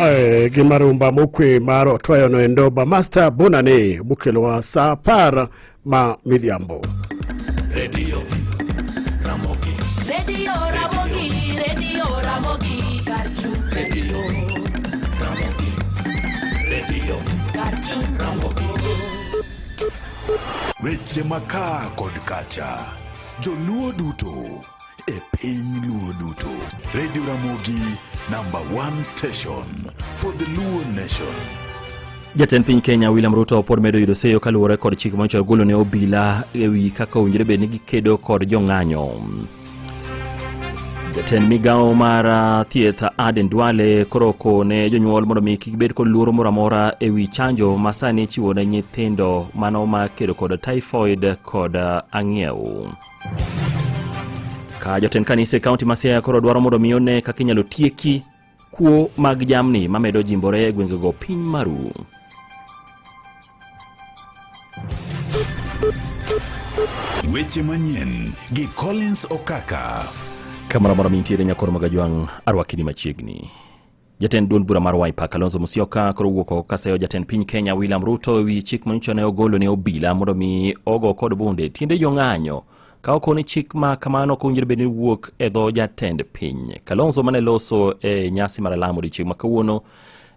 Eh, gi marumba mokwe mar otweyono endo bamasta bonane mokelowa sa apar ma midhiambo redio ramogi redio ramogi redio ramogi kar chung redio ramogi redio kar chung ramogi weche makaa kod kacha joluo duto e piny luo duto radio ramogi number one station for the luo nation Jatend piny Kenya William Ruto pod medo yudo seyo kaluwore kod chik manyocha ogolo ne obila ewi kaka owinjore bed ni gikedo kod jong'anyo. Jatend migawo mar ah, thieth Aden Duale koro oko ne jonyuol mondo mi kik bed kod luoro moro amora ewi chanjo ma sani ichiwo ne nyithindo mano ma kedo kod typhoid kod ah, ang'iew. Ka jotend kanise kaunti ma Siaya koro dwaro mondo mi one kaka inyalo tieki kuo mag jamni mamedo jimbore e gwengego piny maru. Weche manyien gi Collins Okaka. Kamoro amora mintiere nyakoro magajwang' arwakini machiegni. Jatend duond bura mar Wiper Kalonzo Musyoka koro wuok oko kaseyo jatend piny Kenya William Ruto e wi chik manyicho ne ogolo ne obila mondo mi ogo kod bunde tiende jong'anyo ka ok ni chik ma kamano ok owinjore bed ni wuok e dho jatend piny. Kalonzo mane loso e nyasi mar alamo odiechieng' ma kawuono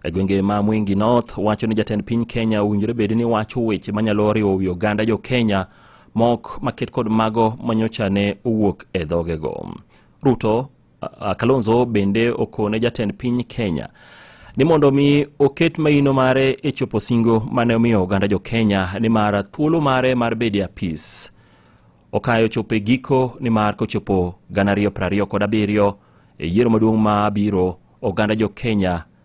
e gwenge ma Mwingi North wacho ni jatend piny Kenya owinjore bed ni wacho weche manyalo riwo wi oganda jo Kenya mok maket kod mago manyocha ne owuok e dhogego. Ruto Kalonzo bende okone jatend piny Kenya ni mondo mi oket maino mare e chopo singo mane omiyo oganda jo Kenya ni mar thuolo mare mar bede apis okayo chopo e giko ni mar kochopo gana ariyo prariyo kod abiriyo e yiero maduong' ma biro oganda jo Kenya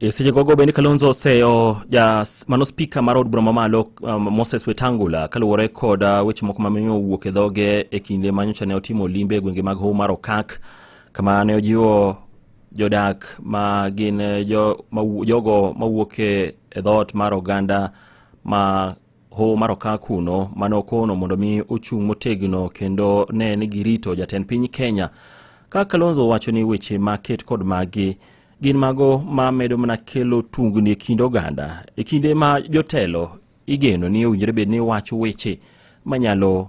E seche gogo bende Kalonzo oseyo ja mano spika mar od bura mamalo um, Moses Wetangula kaluwore kod uh, weche moko mamiyo owuok e dhoge e kinde ma nyocha ne otimo limbe e gwenge mag Hoho mar Okak kama ne ojiwo jodak ma gin eh, jo, ma, jogo mawuok e dhoot mar oganda ma Hoho mar okak kuno mane okono mondo mi ochung' motegno kendo ne ni girito jatend piny Kenya. Ka Kalonzo wacho ni weche ma ket kod magi gin mago ma medo mana kelo tungni e kind oganda e kinde ma jotelo igeno ni owinjore bed ni wacho weche manyalo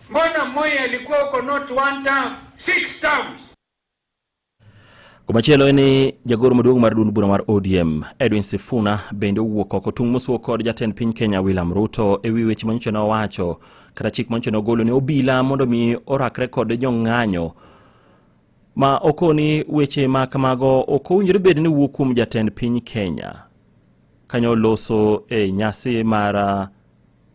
Mbona Moi alikuwa huko not one term, six terms. Komachielo en ni jagoro maduong' mar duond bura mar ODM Edwin Sifuna bende owuok oko tung' mosuo kod jatend piny Kenya William Ruto e wi weche manyocha ne owacho kata chik manyocha ne ogolo ne obila mondo mi orakre kod jong'anyo ma okoni weche ma kamago ok owinjore bed ni wuok kuom jatend piny Kenya kanyo loso e nyasi mar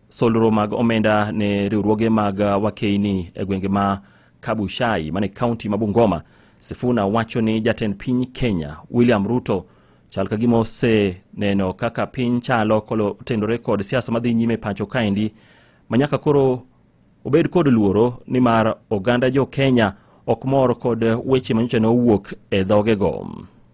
Solro mag omenda ne riwruoge mag wakeini e gwenge ma Kabuchai mane kaunti ma Bungoma. Sifuna wacho ni jatend piny Kenya William Ruto chal ka gima oseneno kaka piny chalo kotendore kod siasa madhi nyime pacho kaendi manyaka koro obed kod luoro nimar oganda jo Kenya ok mor kod weche manyocha ne owuok e dhogego.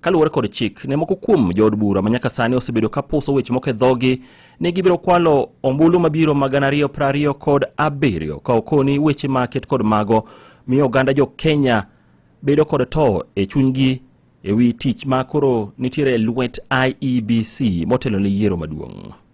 Kaluwore kod chik, ne moko kuom jood bura ma nyaka sani osebedo ka puso weche moko e dhogi ni gibiro kwalo ombulu mabiro ma gana ariyo piero ariyo kod abiriyo ka okoni weche ma ket kod mago miyo oganda jo Kenya bedo kod to e chunygi e wi tich ma koro nitiere e lwet IEBC motelo ne yiero maduong'.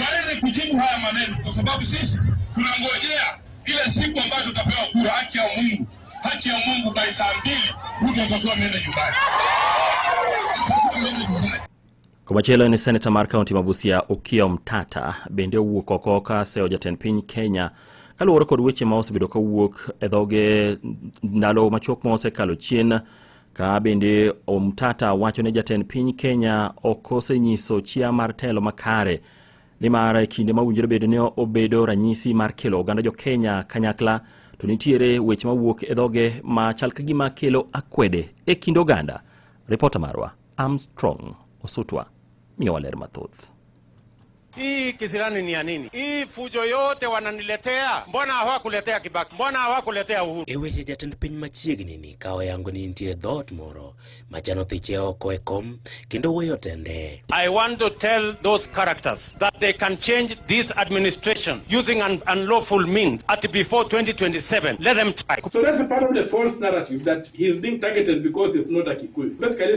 waweze kujibu haya maneno, kwa sababu sisi tunangojea ile siku ambayo tutapewa kura. Haki ya Mungu, haki ya Mungu, by saa mbili mtu atakuwa ameenda nyumbani. Komachielo en seneta mar kaunti ma Busia Okiya Omtata bende owuok oko ka seyo jatend piny Kenya kaluwore kod weche ma osebedo kawuok e dhoge ndalo machuok ma osekalo chien Ka bende Omtata wacho ne jatend piny Kenya ok osenyiso chia mar telo makare nimar e kinde ma winjore bedo ni obedo ranyisi mar kelo oganda jo Kenya kanyakla to nitiere weche mawuok e dhoge ma chal ka gima kelo akwede e kind oganda. Ripota marwa Armstrong Osutwa miyowa ler mathoth. Hii kisirani ni ya nini? Hii fujo yote wananiletea, mbona hawakuletea Kibaki? Mbona hawakuletea Uhuru? E weche jatend piny machiegni ni kawo yango ni nitiere dhoot moro machano thiche oko e kom kendo weyo tende. I want to tell those characters that they can change this administration using an unlawful means at before 2027. Let them try. So that's a part of the false narrative that he's being targeted because he's not a Kikuyu. Basically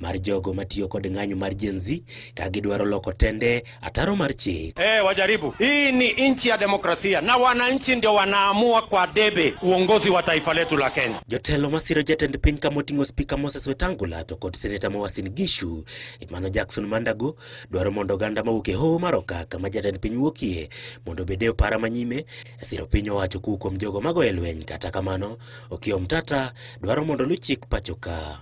mar jogo matiyo kod ng'anyo mar Gen Z ka gidwaro loko tende ataro mar chik. Hey, eh, wajaribu. Hii ni nchi ya demokrasia na wananchi ndio wanaamua kwa debe uongozi wa taifa letu la Kenya. Jotelo masiro jatend piny kama oting'o spika Moses Wetangula to kod seneta Mawasin Gishu Emmanuel Jackson Mandago dwaro mondo oganda mawuok e hoho mar Okak kama jatend piny wuokie mondo obed e opara manyime e siro piny owacho kuwuok kuom jogo mago e lweny. Kata kamano, Okiya Omtata dwaro mondo luw chik pachoka.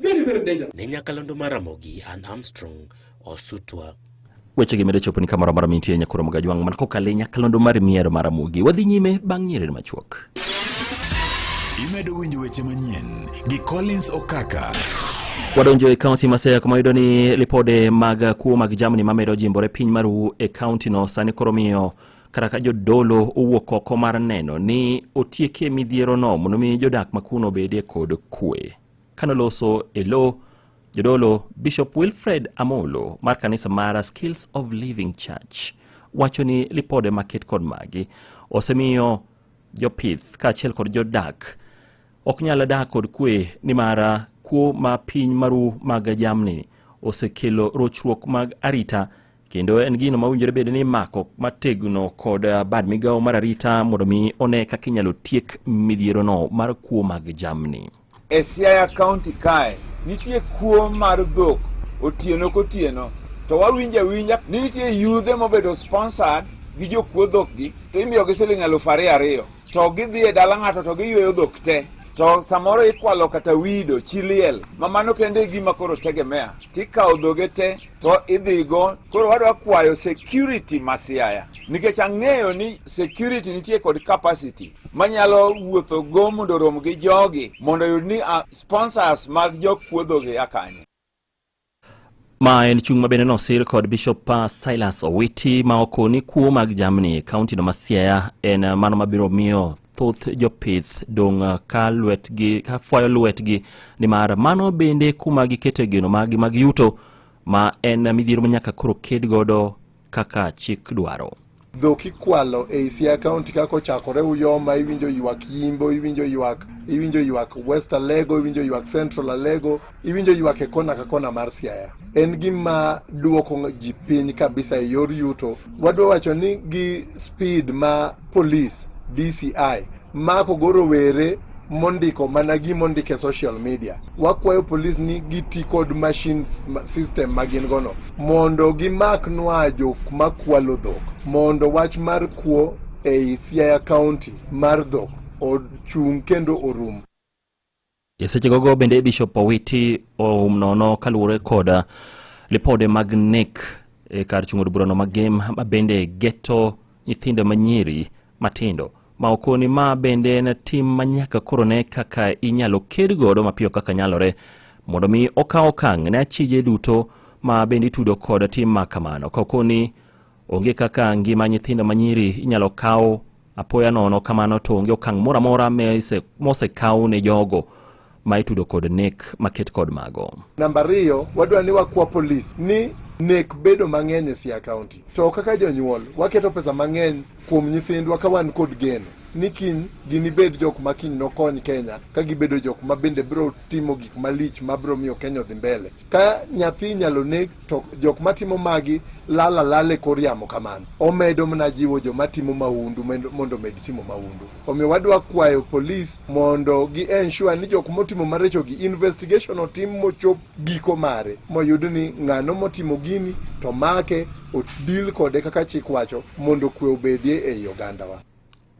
Very, very dangerous. Ne nyakalondo mar Ramogi and Armstrong Osutwa. Weche gi medo chopo ni kamoro amora mintie nyakoro mgajwang' man kokalo e nyakalondo mar miero mar Ramogi. Wadhi nyime bang' nyiriri machuok. Imedo winjo weche manyien gi Collins Okaka. Wadonjo e kaunti ma Siaya kuma yudo ni lipode mag kuo mag jamni mamedo jimbore piny maru e kaunti no sani koro miyo kata ka jodolo owuok oko mar neno ni otiekie midhierono mondo mi jodak makuno obedie kod kwe. Kanoloso e lo jodolo Bishop Wilfred Amolo mar kanisa mar Skills of Living Church wacho ni lipode maket kod magi osemiyo jopith kaachiel kod jodak ok nyal dak kod kwe nimar kuo ma piny maru mag jamni osekelo rochruok mag arita kendo en gino ma winjore bed ni imako mategno kod eh, bad migawo mar arita mondo mi one kaka inyalo tiek midhierono mar kuo mag jamni. E Siaya kaunti kae nitie kuo mar dhok otieno kotieno to wawinjo awinja ni nitie yudhe mobedo sponsored gi jokuo dhokgi to imiyogi siling alufu ariyo ariyo to gidhi e dala ng'ato to giyweyo dhok te to samoro ikwalo kata wido chiliel ma mano kende e gima koro tegemea tikawo dhoge te to idhigo koro wadwa kwayo security ma Siaya nikech ang'eyo ni security nitie kod capacity manyalo wuotho go mondo rom gi jogi mondo yud ni uh, sponsors mag jokuodhogi akanyo ma en chung' mabende nosir kod bishop uh, silas owiti ma okoni kuo mag jamni e kaunti no ma siaya en uh, mano mabiro miyo thoth jopith dong' ah, ka lwetgi ka fwayo lwetgi nimar mano bende kuma gikete geno maggi mag yuto ma en midhiero ma nyaka koro ked godo kaka chik dwaro dhok ikwalo ei Siaya County kaka ochakore Uyoma, iwinjo ywak Yimbo, iwinjo ywak iwinjo ywak West Alego, iwinjo ywak Central Alego, iwinjo ywak e kona ka kona mar Siaya. En gima duoko ji piny kabisa e yor yuto. Wadwa wacho ni gi speed ma police DCI mako go rowere mondiko mana gimondiko e social media. Wakwayo police ni giti kod machine system ma gin gono mondo gimak nwa jok makwalo dhok mondo wach mar kuo ei Siaya County mar dhok ochung' kendo orum. E seche gogo bende Bishop Owiti oum nono kaluwore kod uh, lipode mag nek e kar chung'od burano ma gem ma bende geto nyithindo manyiri matindo ma okoni ma bende en tim ma nyaka koro ne kaka inyalo ked godo mapiyo kaka nyalore mondo mi okaw okang' ne achije duto ma bende itudo kod tim ma kamano ka okoni onge kaka ngima nyithindo manyiri inyalo kaw Apoya nono kamano to onge okang' moro amora mosekaw ne jogo ma itudo kod nek maket kod mago. Namba ariyo, wadwa ni wakwa polis ni nek bedo mang'eny e Siaya County. To kaka jonyuol, waketo pesa mang'eny kuom nyithindwa ka wan kod geno ni kiny ginibed jok ma kiny nokony Kenya ka gibedo jok ma bende biro timo gik malich ma biro miyo Kenya odhi mbele. Ka nyathi inyalo neg to jok matimo magi lal alal e kor yamo kamano omedo mana jiwo joma timo mahundu mendo- mondo omed timo mahundu omiyo wadwa kwayo polis mondo gi ensure ni jok motimo marichogi investigation otim mochop giko mare moyud ni ng'ano motimo gini to make odil kode kaka chik wacho mondo kwe obedie ei ogandawa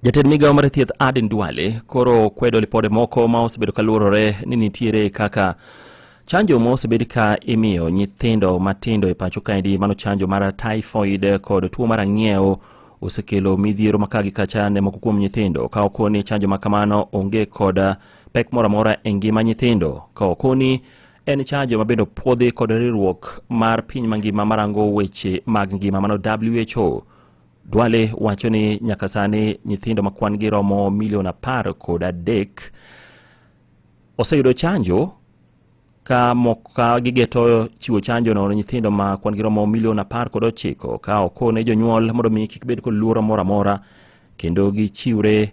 Jatend migawo mar thieth Aden Duale koro kwedo lipode moko ma osebedo ka luorore ni nitiere kaka chanjo ma osebed ka imiyo nyithindo matindo e pacho kaendi mano chanjo mar typhoid kod tuo mar ang'iew osekelo midhiero maka gi kacha ne moko kuom nyithindo ka okoni chanjo ma kamano onge kod pek moro amora e ngima nyithindo ka okoni en chanjo mabende opuodhi kod riwruok mar piny mangima marango weche mag ngima mano who Duale wacho ni nyaka sani nyithindo ma kwan gi romo milion apar kod adek oseyudo chanjo ka moka gigeto chiwo chanjo no ne nyithindo ma kwan gi romo milion apar kod ochiko ka okone jonyuol mondo mi kik bed kod luoro moro amora kendo gichiwre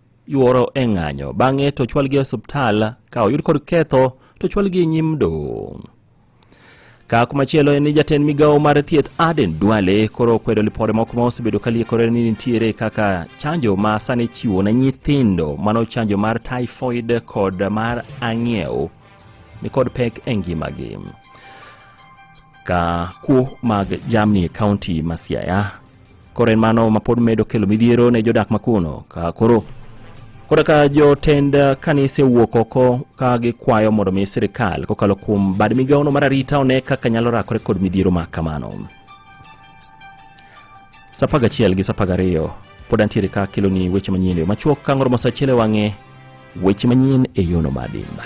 yuoro e ng'anyo bang'e to chwalgi e osiptal ka oyud kod ketho to chwalgi e nyim doho ka kumachielo en ni jatend migawo mar thieth Aden Duale koro okwedo lipode moko ma osebedo ka liekore ni nitiere kaka chanjo ma sani chiwo ne nyithindo mano chanjo mar typhoid kod mar ang'iew ni kod pek e ngimagi ka kuo mag jamni e kaunti ma Siaya koro en mano ma pod medo kelo midhiero ne jodak makuno ka koro koro ka jotend kanise wuok oko ka gikwayo mondo mi sirikal kokalo kuom bad migawono mar arita one kaka nyalo rakore kod midhiero ma kamano sapaga achiel gi sapaga ariyo pod antiere ka keloni weche manyien yo machuok ka ngoro mosachiel e wang'e Weche manyien e yono mar dimba.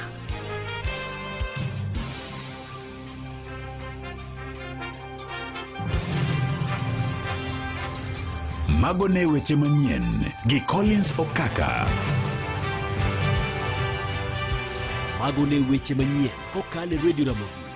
Mago ne weche manyien gi Collins Okaka. Mago ne weche manyien kokalo e Radio Ramogi.